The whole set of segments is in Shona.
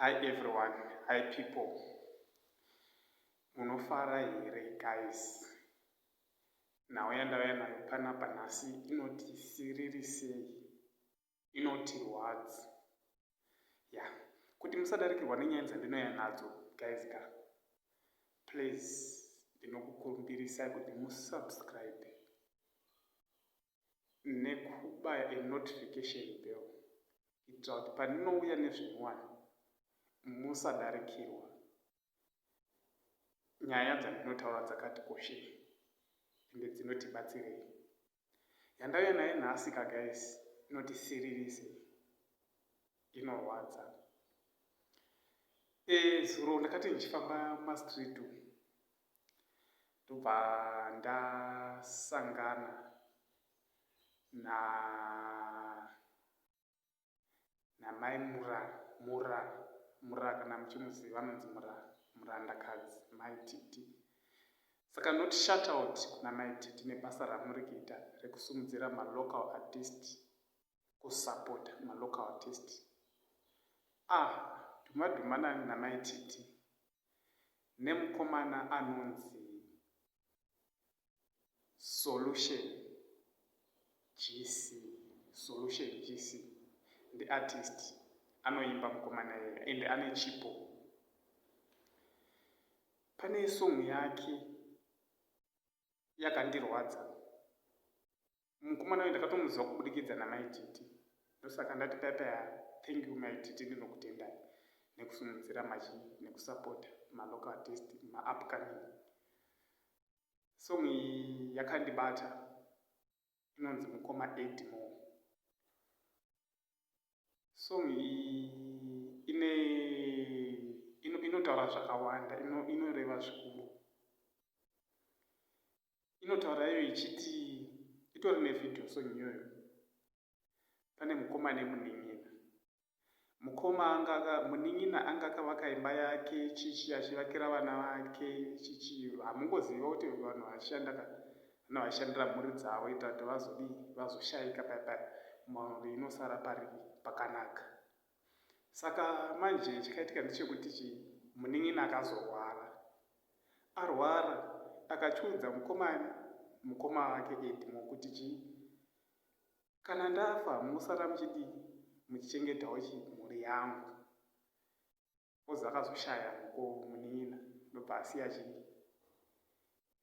Hi everyone, hi people. Munofara here guys? Nhau yandauya nayo panapa nhasi inoti siriri sei? Inoti rwadzi. Ya, kuti musadarikirwa nenyaya dzandinouya nadzo guys ka. Please ndinokukumbirisai kuti musubscribe. nekubaya a notification bell kuitira kuti pandinouya nezvinyowani musadarikirwa nyaya dzandinotaura dzakati koshei ende dzinotibatsirei yandauya naye nhasi kagais inoti siririse inorwadza e zuro ndakati ndichifamba mastreet umu ndobva ndasangana na namai mura mura mura kana muchimuziva anonzi mura murandakadzi mai titi saka not shut out kuna mai titi nebasa ramuri kuita rekusumudzira malocal artist kusapota malocal artist ah dhuma dhuma nani namai titi nemukomana anonzi Solution Jisi. Solution Jisi ndi artist anoimba mukomana iya ende ane chipo. Pane song yake yakandirwadza mukomana uyu ndakatomuziva kubudikidza namai titi ndosaka ndati data thank you mai titi ndinokutendai nekusimudzira machi nekusapota malocal artist maupcoming song iyi yakandibata inonzi mukoma edmore song iyi ine inotaura zvakawanda inoreva zvikuru inotaura iyo ichiti itori nevideo song iyoyo pane mukoma nemunin'ina mukoma anga munin'ina anga akavaka imba yake chichi achivakira vana vake chichi hamungoziva kuti vanhu vashanda ka Vana vaishandira mhuri dzavo kuita kuti vazodii? Vazoshaika paya paya mhuri inosara pari pakanaka. Saka manje chakaitika ndechekuti chi munin'ina akazorwara. Arwara akachiudza mukomana mukoma wake Edmore kuti chi kana ndafa munosara muchidii? Muchichengetawo chi mhuri yangu. coz akazoshaya mukoo munin'ina ndobva asiya chii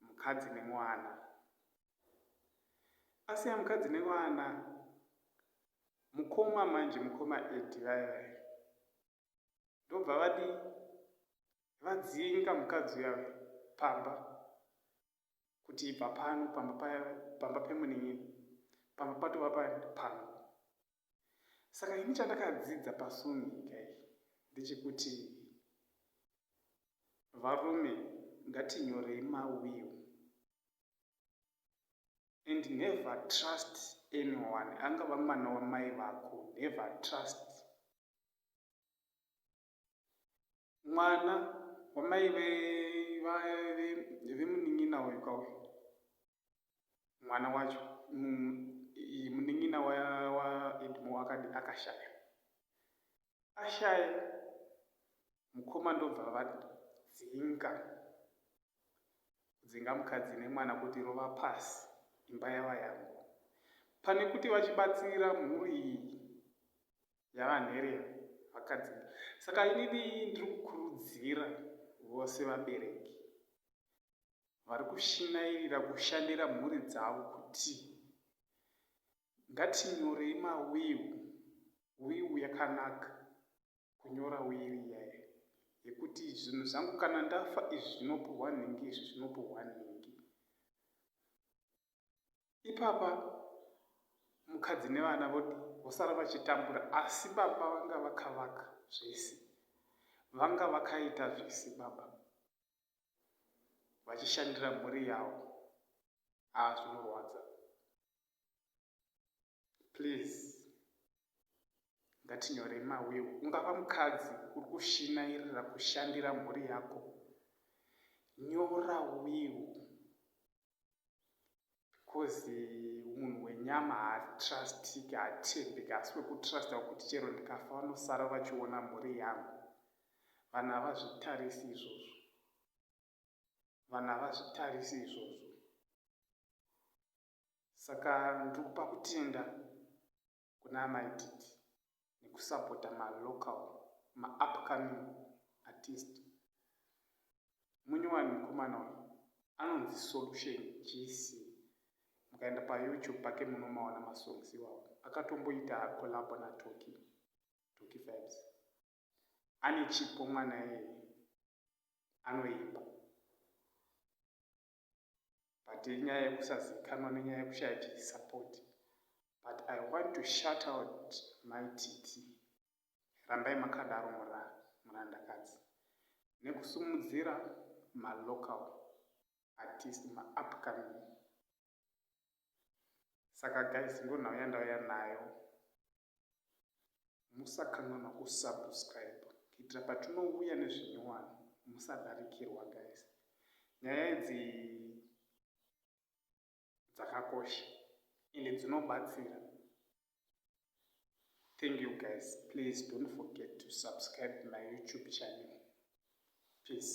mukadzi nemwana asiya mukadzi nevana mukoma manje mukoma edi vaya vaya ndobva vadii vadzinga mukadzi uyave pamba kuti ibva pano pamba pa pamba pemunin'ina pamba patova pa pangu saka ini chandakadzidza pasong nyika iyi ndechekuti varume ngatinyorei mawill and never trust anyone angava mwana wamai vako never trust mwana wamai vemunin'ina uyu kauyu mwana wacho munin'ina waedmo akadi akashaya ashaya mukoma ndobva vadzinga kudzinga mukadzi nemwana kuti rova pasi imba yava yangu pane kuti vachibatsira mhuri iyi yavanherera vakadzi saka inini ndiri kukurudzira vose vabereki vari kushinairira kushandira mhuri dzavo kuti ngatinyorei mawiu wiu yakanaka kunyora wiri yayo yekuti zvinhu zvangu kana ndafa izvi zvinopuhwa nhingi izvi zvinopuhwa nhingi ipapa mukadzi nevana vosara vachitambura asi baba vanga vakavaka zvese vanga vakaita zvese baba vachishandira mhuri yavo haa zvinorwadza please ngatinyorei mawiwo ungava mukadzi uri kushinairira kushandira mhuri yako nyora wiwo coz munhu wenyama haatrustiki haatendeki asi wekutrusta wekuti chero ndikafa vanosara vachiona mhuri yangu vanhu havazvitarisi izvozvo vanhu havazvitarisi izvozvo saka ndiri kupa kutenda kuna amai titi nekusapota ma local ma upcoming artist munyowani mukomana uyu anonzi solution gc mukaenda payoutube pake munomaona masongs iwawo akatomboita collabo natoki toki vibes ane chipo mwana iyeye anoimba but inyaya yekusazivikanwa nenyaya yekushaya chisupport but i want to shut out my titi rambai makadaro murandakadzi nekusumudzira malocal artist maupcoming saka guys ndonhau yandauya nayo musakanganwa kusubscribe kuitira patinouya nezvinyowani musadarikirwa guys nyaya idzi dzakakosha ende dzinobatsira thank you guys please don't forget to subscribe my youtube channel peace